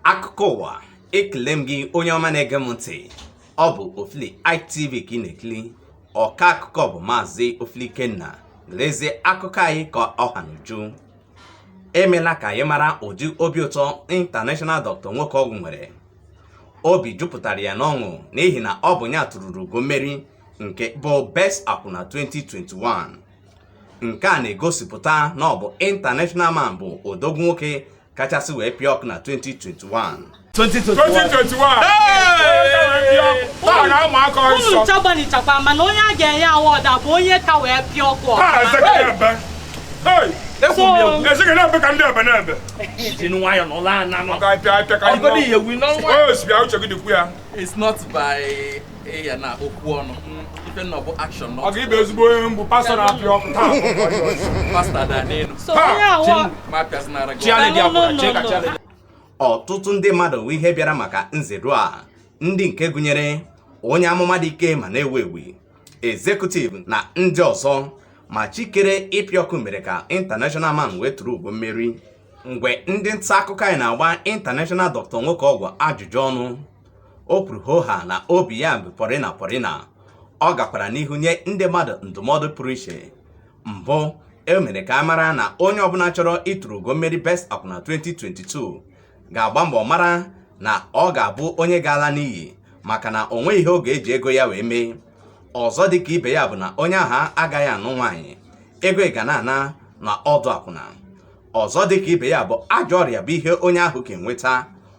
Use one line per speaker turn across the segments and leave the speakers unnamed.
akụkọ ụwa ekele m gị onye ọma na-ege m ntị ọ bụ ofili itv ka ị na-ekili ọka akụkọ bụ maazị ofili ikenna lezie akụkọ anyị ka ọ ha n'uju e mela ka anyị mara ụdị obi ụtọ international doctor nwoke ọgwụ nwere obi jupụtara ya n'ọṅụ n'ihi na ọ bụ ya tururu ugo mmeri nke bụ best akwụna 2021 nke a na-egosipụta na ọ bụ international man bụ odogwu nwoke kachasị wee pịa ọkụ
na 2021 unu ncha gbanịchakwa mana onye a ga-enye award a bụ onye ka wee pịa
ọkụ ọkụ It's not by ịya na okwu ọnụ ife nọ bụ action ọ ga-ịbụ ezigbo onye mbụ pastọ na-apịa ọkụ taa
pastọ ada n'elu ọtụtụ ndị mmadụ wụ ihe bịara maka nzedo a ndị nke gụnyere onye amụma dị ike ma na-ewu ewu executive na ndị ọzọ ma chikere ịpịa ọkụ mere ka international man wee turu ugo mmeri mgbe ndị nta akụkọ anyị na-agba international doctor nwoke ọgwụ ajụjụ ọnụ o kwuru hoha na obi ya bụ pọrịna pọrịna ọ gakwara n'ihu nye ndị mmadụ ndụmọdụ pụrụ iche mbụ e mere ka a mara na onye ọbụla chọrọ ituru ugo mmeri best akwụna 2022 ga-agba mbọ mara na ọ ga-abụ onye ga-ala n'iyi maka na o nweghị ihe ọ ga-eji ego ya wee mee ọzọ dị ka ibe ya bụ na onye ahụ agaghị anụ nwaanyị ego ya ga na-ana na ọdụ akwụna ọzọ dị ka ibe ya bụ ajọ ọrịa bụ ihe onye ahụ ga-enweta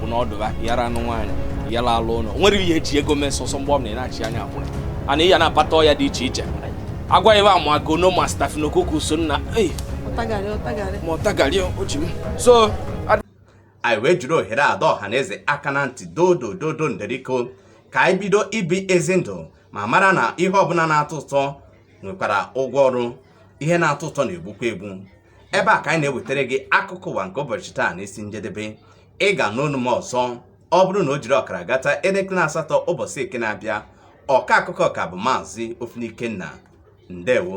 bụ na ọdụ ha yara anụ nwaanyị yara alụ ụlọ nwere ihe eji ego mee sọsọ mgbe ọ bụla ị na-achị anya akwụna ana ị ya na-akpata ọya dị iche iche agwa ebe a ma gono ma staphylococcus o nna ei ọtagarị ọtagarị ma ọtagarị o ji m
so anyị wee jiri ohere a dọọ ọha na eze aka na ntị dodo dodo nderiko ka anyị bido ibi ezi ndụ ma mara na ihe ọbụla na-atọ ụtọ nwekwara ụgwọ ọrụ ihe na-atọ ụtọ na-egbukwa egbu ebe a ka anyị na-ewetara gị akụkọ ụwa nke ụbọchị taa na isi njedebe ị ga-anụ onu m ọzọ ọ bụrụ na o jiri ọkara gata elekere asatọ ụbọchị eke na-abịa ọka akụkọ ka bụ maazị Ofili Ikenna ndewo